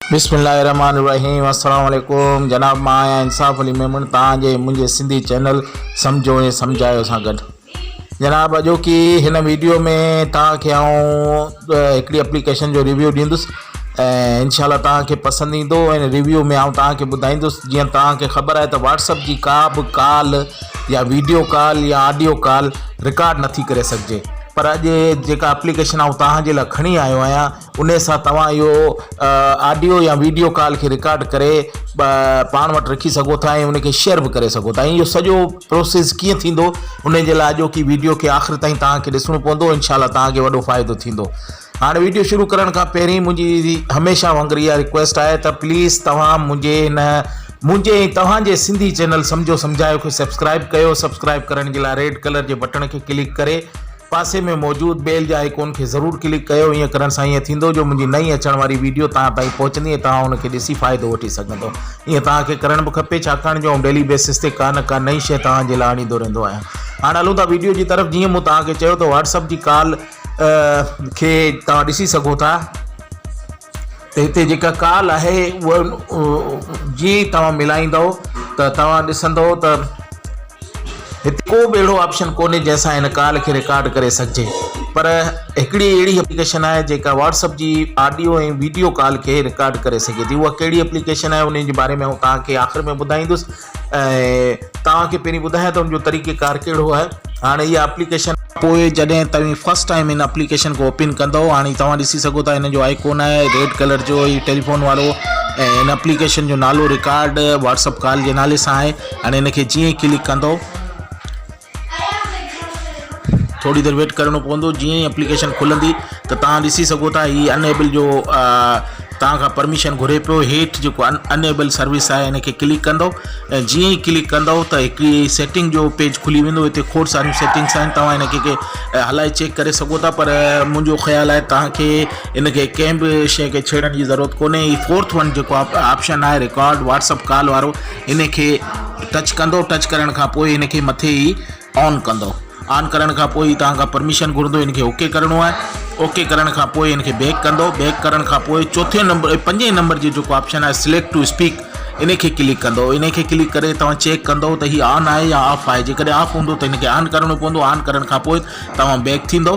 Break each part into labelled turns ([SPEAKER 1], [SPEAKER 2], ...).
[SPEAKER 1] بسم الله الرحمن الرحيم السلام عليڪم جناب مان آهيان انصاف علي ميمڻ تان جي منهنجي سنڌي چينل سمجھو ۽ سمجھايو سان گڏ جناب اڄو ڪي هن ويڊيو ۾ تان کي آئون هڪڙي اپليڪيشن جو ريويو ڏيندس ۽ ان شاء الله تان کي پسند ايندو ۽ ريويو ۾ آئون تان کي ٻڌائيندس جيئن تان کي خبر آهي ته واٽس اپ جي ڪا به ڪال يا ويڊيو ڪال يا آڊيو ڪال رڪارڊ نٿي ڪري سگهجي پر اڄ جيڪا اپليڪيشن آئون توهان جي لاء کڻي آيو آهيان انهي سان توهان اهو آڊيو يا ويڊيو ڪال کي رڪارڊ ڪري پاڻ وٽ رکي سگهو ٿا ۽ ان کي شيئر به ڪري سگهو ٿا ۽ اهو سڄو پروسيس ڪيئن ٿيندو ان جي لاء اڄوڪي ويڊيو کي آخر تائين توهان کي ڏسڻو پوندو انشاء الله توهان کي وڏو فائدو ٿيندو هاڻ ويڊيو شروع ڪرڻ کان پهرين منهنجي هميشه وانگر اها رڪويسٽ آهي ته پليز توهان منهنجي هن منهنجي ۽ توهان جي سنڌي چينل سمجهو سمجهايو کي سبسڪرائيب ڪيو سبسڪرائيب ڪرڻ جي لاء ريڊ ڪلر جي بٽڻ کي ڪلڪ ڪري پاسي ۾ موجود بيل جي آئيڪون کي ضرور ڪلڪ ڪيو ائين ڪرڻ سان ائين ٿيندو جو منهنجي نئين اچڻ واري ويڊيو توهان تائين پهچندي ۽ توهان ان کي ڏسي فائدو وٺي سگهندو ائين توهان کي ڪرڻ به کپي ڇاڪاڻ جو آئون ڊيلي بيسس تي ڪا نه ڪا نئين شيء توهان جي لاء آڻيندو رهندو آهيان هاڻ هلون ٿا ويڊيو جي طرف جيئن مون توهان کي چيو ته واٽس اپ جي ڪال کي توهان ڏسي سگهو ٿا ته هتي جيڪا ڪال آهي اها جيئن ئي توهان ملائيندو ته توهان ڏسندو ته هتي ڪو به اهڙو آپشن ڪونهي جنهن سان هن ڪال کي رڪارڊ ڪري سگهجي پر هڪڙي اهڙي اپليڪيشن آهي جيڪا واٽس اپ جي آڊيو ۽ ويڊيو ڪال کي رڪارڊ ڪري سگهي ٿي اها ڪهڙي اپليڪيشن آهي ان جي باري ۾ آئون توهان کي آخر ۾ ٻڌائيندس ۽ توهان کي پهرين ٻڌايان ته ان جو طريقه ڪار ڪهڙو آهي هاڻي اها اپليڪيشن پوء جڏهن توهين فرسٽ ٽائيم ان اپليڪيشن کي اوپين ڪندؤ هاڻي توهان ڏسي سگهو ٿا ان جو آئيڪون آهي ريڊ ڪلر جو هي ٽيليفون وارو ۽ ان اپليڪيشن جو نالو رڪارڊ واٽس اپ ڪال جي نالي سان آهي هاڻي ان کي جيئن ڪلڪ ڪندؤ ٿوري دير ويٽ ڪرڻو پوندو جيئن ئي اپليڪيشن کلندي ته تان ڏسي سگهو ٿا هي ان ايبل جو تان کان پرميشن گهري پيو هيٺ جيڪو ان ان ايبل سروس آهي ان کي ڪلڪ ڪندو ۽ جيئن ئي ڪلڪ ڪندو ته هڪڙي سيٽنگ جو پيج کلي ويندو هتي کوڙ ساريون سيٽنگس آهن توهان ان کي هلائي چيڪ ڪري سگهو ٿا پر منهنجو خيال آهي تان کي ان کي ڪنهن به شيء کي ڇيڙڻ جي ضرورت ڪونهي هي فورٿ ون جيڪو آپشن آهي رڪارڊ واٽسپ ڪال وارو هن کي ٽچ ڪندو ٽچ ڪرڻ کان پوء هن کي مٿي ئي آن ڪندو آن ڪرڻ کان پوء توهان کان پرميشن گهرندو هن کي اوڪي ڪرڻو آهي اوڪي ڪرڻ کان پوء هن کي بيڪ ڪندو بيڪ ڪرڻ کان پوء چوٿين نمبر پنجين نمبر جي جيڪو آپشن آهي سليڪٽ ٽو اسپيڪ ان کي ڪلڪ ڪندو ان کي ڪلڪ ڪري توهان چيڪ ڪندو ته هي آن آهي يا آف آهي جيڪڏهن آف هوندو ته هن کي آن ڪرڻو پوندو آن ڪرڻ کان پوء توهان بيڪ ٿيندو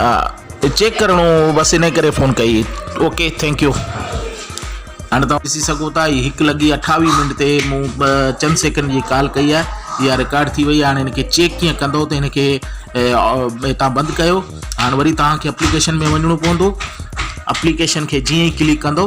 [SPEAKER 1] ها چيڪ ڪرڻو هو بس انهي ڪري فون ڪئي اوڪي ٿينڪ يو. هاڻي توهان ڏسي سگهو ٿا هي هڪ لڳي اٺاويهه منٽ تي مون چند سيڪنڊ جي ڪال ڪئي آهي اها رڪارڊ ٿي وئي آهي هاڻي هن کي چيڪ ڪيئن ڪندو ته هن کي هتان بند ڪيو هاڻي وري توهان کي اپليڪيشن ۾ وڃڻو پوندو اپليڪيشن کي جيئن ئي ڪلڪ ڪندو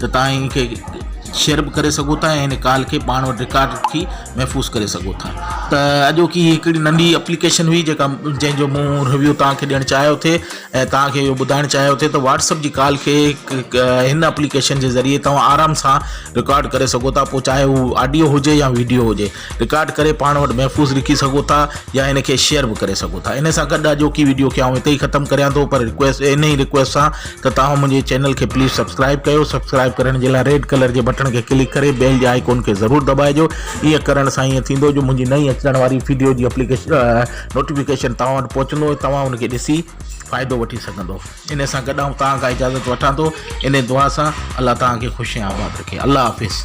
[SPEAKER 1] ته توهان ان کي شيئر به ڪري سگهو ٿا ۽ ان ڪال کي پاڻ وٽ رڪارڊ رکي محفوظ ڪري سگهو ٿا ته اڄوڪي هي هڪڙي ننڍي اپليڪيشن هئي جيڪا جنهن جو مون ريويو توهان کي ڏيڻ چاهيو ٿي ۽ توهان کي اهو ٻڌائڻ چاهيو ٿي ته واٽسپ جي ڪال کي هن اپليڪيشن جي ذريعي توهان آرام سان رڪارڊ ڪري سگهو ٿا پوء چاهي هو آڊيو هجي يا ويڊيو هجي رڪارڊ ڪري پاڻ وٽ محفوظ رکي سگهو ٿا يا هن کي شيئر به ڪري سگهو ٿا ان سان گڏ اڄوڪي ويڊيو کي آئون هتي ئي ختم ڪريان ٿو پر رڪويسٽ ان ئي رڪويسٽ سان ته توهان منهنجي چينل کي پليز سبسڪرائب ڪيو سبسڪرائب ڪرڻ جي لاء ريڊ ڪلر جي بٽڻ کي ڪلڪ ڪري بيل جي آئيڪون کي ضرور دٻائجو ايئن ڪرڻ سان ايئن ٿيندو جو منهنجي نئين اچڻ واري ويڊيو جي اپليڪيشن نوٽيفڪيشن توهان وٽ پهچندو توهان ان کي ڏسي فائدو وٺي سگهندو ان سان گڏ آئون توهان کان اجازت وٺان ٿو ان دعا سان الله توهان کي خوش آباد رکي الله حافظ